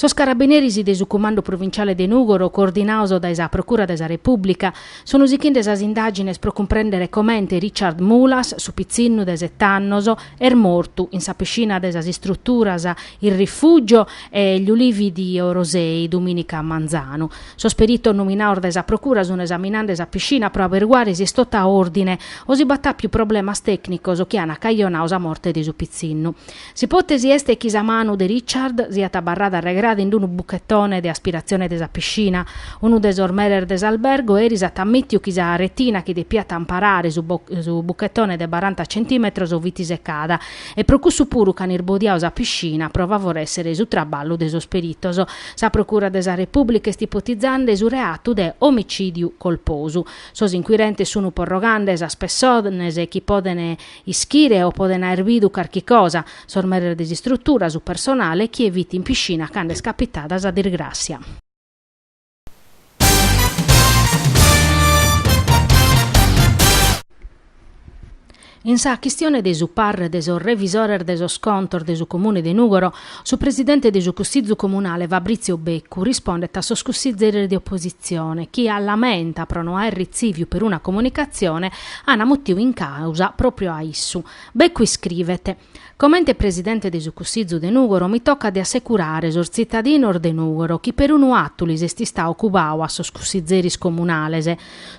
Sos carabineris de su Cumandu Provinciale de Nùgoro, coordinados dae sa Procura de sa Repùblica, sunt sighende sas indàgines pro cumprèndere comente Richard Mulas, su pitzinnu de sete annos, est mortu in sa piscina de sas istruturas Il Rifugio e Gli Ulivi di Orosei domìnica a manzanu. Sos peritos nominados dae sa Procura sunt esaminende sa piscina pro aberiguare si est totu a òrdine o si b'at àpiu problemas tècnicos chi ant cajonadu sa morte de su pitzinnu. S'ipòtesi est chi sa manu de Richard siat abarrada arregrada in unu buchetone de aspiratzione de sa piscina. Unu de sos meres de s'albergu eris at ammìtiu chi sa retina chi depiat amparare su buchetone de baranta centìmetros fit secada e pro cussu puru ch'an irbodiadu sa piscina pro favorèssere su traballu de sos peritos. Sa procura de sa Repùblica est ipotizende su reatu de omicìdiu colposu. Sos inquirentes sunt porrogande sas pessones chi podent Ischire o podent aer bidu carchi cosa, sos meres de s'istrutura, su personale, chie fit in piscina cando est capitada sa dirgràssia. In sa chistione de su parre de sos revisores de sos contos de su Comune de Nùgoro, Su presidente de su Cussizu Comunale Fabrizio Beccu rispondet a sos cussizeres de opositzione chi a lamenta pro no aer ritzìviu peruna comunicatzione ana mutiu in càusa pròpriu a issu. Beccu iscrivet, Comente presidente de su Cussizu de Nùgoro mi tocat de assecurare sos tzitadinos de Nùgoro chi perunu atu lis est istadu cubadu a sos cussizeris comunales,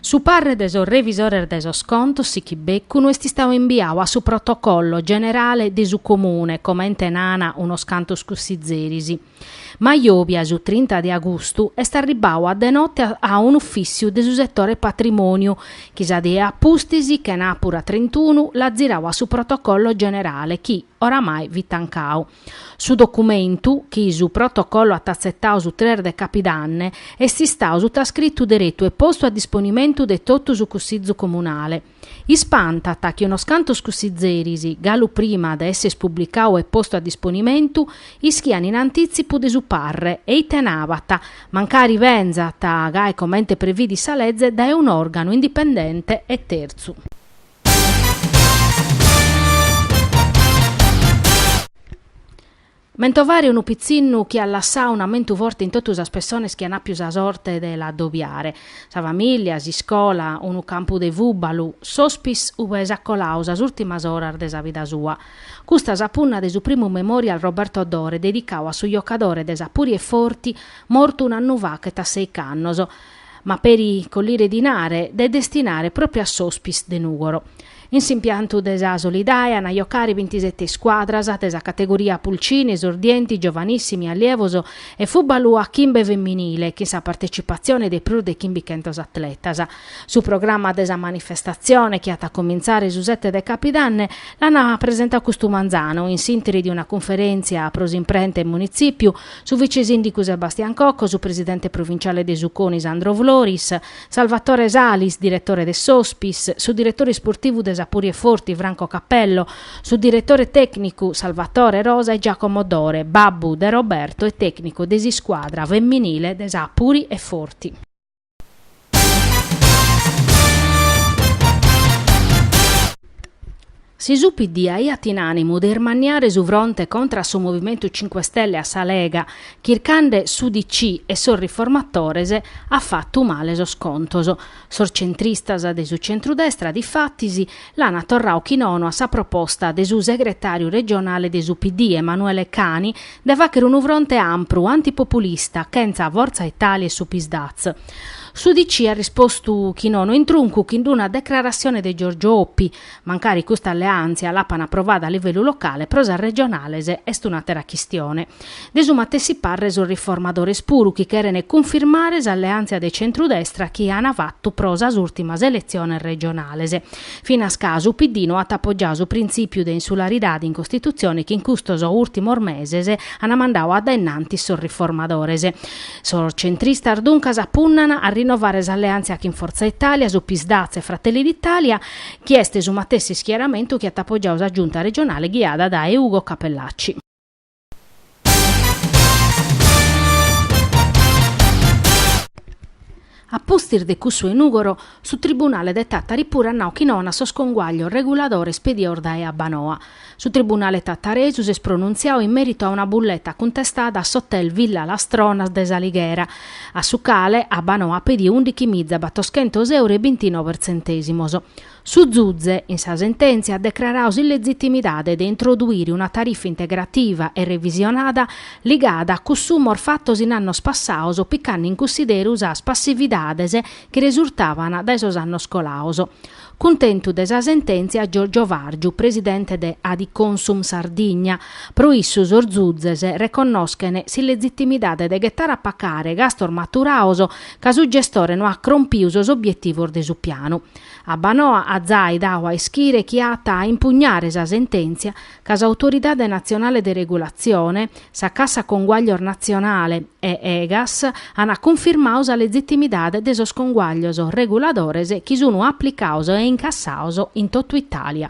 Su parre de sos revisores de sos contos sichit Beccu no est istadu imbiadu a su protocollo generale de su Comune, comente nan unos cantos cussizeris. Ma jòbia su trinta de agustu est arribbadu a de notte a un'uffissiu de su settore patrimoniu chi sa die a pustis, chenàpura trintunu, l'at ziradu a su protocollo generale chi, oramai, fit tancadu. Su documentu, chi su Protocollo at atzetadu su tres de capidanne, est istadu sutascritu deretu e postu a disponimentu de totu su Cussizu Comunale. Ispantat chi unos cantos cussizeris, galu prima de esser pubblicadu e postu a disponimentu, ischian in antitzipu de su parre e ite nabat, mancari benzat, gai comente previdit sa leze, dae un'organu indipendente e terzu. Mentovare unu pitzinnu chi at lassadu un'amentu forte in totu sas pessones chi an àpiu sa sorte de l'adobiare, sa famìllia, s'iscola, unu campu de fùbalu, s'hospice ube s'at coladu sas ùrtimas oras de sa vida sua. Custa sa punna de su primu Memorial Roberto Dore dedicadu a su jocadore de sa Puri e Forti mortu un'annu fachet a seic'annos. ma peri collire dinare de destinare proprio a s'Hospice de Nùgoro. In s'impiantu de sa Solidae an a jocare bintisete scuadras de sa categoria Pulcini, Esordienti, Giovanissimi, Allievi e Fùbalu a chimbe feminile chin sa partecipatzione de prus de chimbichentos atletas. Su programma de sa manifestatzione, chi at a comintzare su sete de Capidanne, l'an presentadu custu manzanu in s'ìnteri de una cunferèntzia pro s'imprenta in Munitzipiu, su vicesindicu Sebastian Cocco, su presidente provinciale de su CONI Sandro Floris, Salvatore Salis, diretore de s'Hospice, su diretore isportivu de sa Puri e Forti Franco Cappello, su diretore tècnicu Salvatore Rosa e Giacomo Dore, babbu de Roberto e tècnicu de s'iscuadra feminile de sa Puri e Forti. Si su PD aiat in ànimu de ismanniare su fronte contra a su Movimentu Cinque Stelle e a sa Lega, chircande s'UDC e sos riformatores, at fatu male sos contos. Sos centristas de su centrudestra, difatis, L'ana torrau chi nono a sa proposta de su segretàriu regionale de su PD Emanuele Cani de fàghere unu fronte ampru antipopulista chentza Fortza Italia e su Psd'Az. S'UDC at rispostu chi nono in truncu chin d'una decrarassione de Giorgio Oppi, mancari custa alleàntzia l'apana aprovada a livellu locale pro sas regionales est un'àtera chistione. De su matessi parre sos riformadores puru chi cherent cunfirmare s'alleàntzia de centrudestra chi ant fatu pro sas ùrtimas eletziones regionales. Finas ca su PD no at apogiadu su printzìpiu de insularidade in Costitutzione chi in custos ùrtimos meses ant mandadu a dae innantis sos riformadores. Sos centristas duncas punnant a rinnovare s'alleàntzia chin Fortza Italia, su Psd'Az e Fratelli d'Italia chi est su matessi ischieramentu chi at apogiadu sa Giunta regionale ghiada dae Ugo Cappellacci. A pustis de cussu 'e Nùgoro, su tribunale de Tàtari puru at nau chi nono a sos conguaglios reguladores pedidos dae Abbanoa. Su tribunale tataresu s'est pronuntziadu in mèritu a una bulleta cuntestada a s'hotel Villa Las Tronas de S'Alighera, a su cale Abbanoa at pedidu ùndichi miza batoschentos euro e bintinove tzentèsimos. Su Zuze, in sa sentèntzia, at decraradu s'illegitimidade de introduire una tarifa integrativa e revisionada ligada a cussumos fatos in annos passados picande in cussideru sas passividades chi resurtaban dae sos annos colados. Cuntentu de sa sentèntzia Giorgio Vargiu, presidente de Adiconsum Sardigna, pro issu sos Zuzes reconnoschene s'illegitimidade de ghetare a pacare gastos maturados ca su gestore no at crompidu sos obietivos de su pianu. Abbanoa at zai dau a ischire chi at a impugnare sa sentèntzia ca s'Autoridade Natzionale de Regulatzione, sa Cassa Conguaglios Natzionale e Egas ant cunfirmadu sa legitimidade de sos conguaglios reguladores chi sunt aplicados e incassados in totu Itàlia.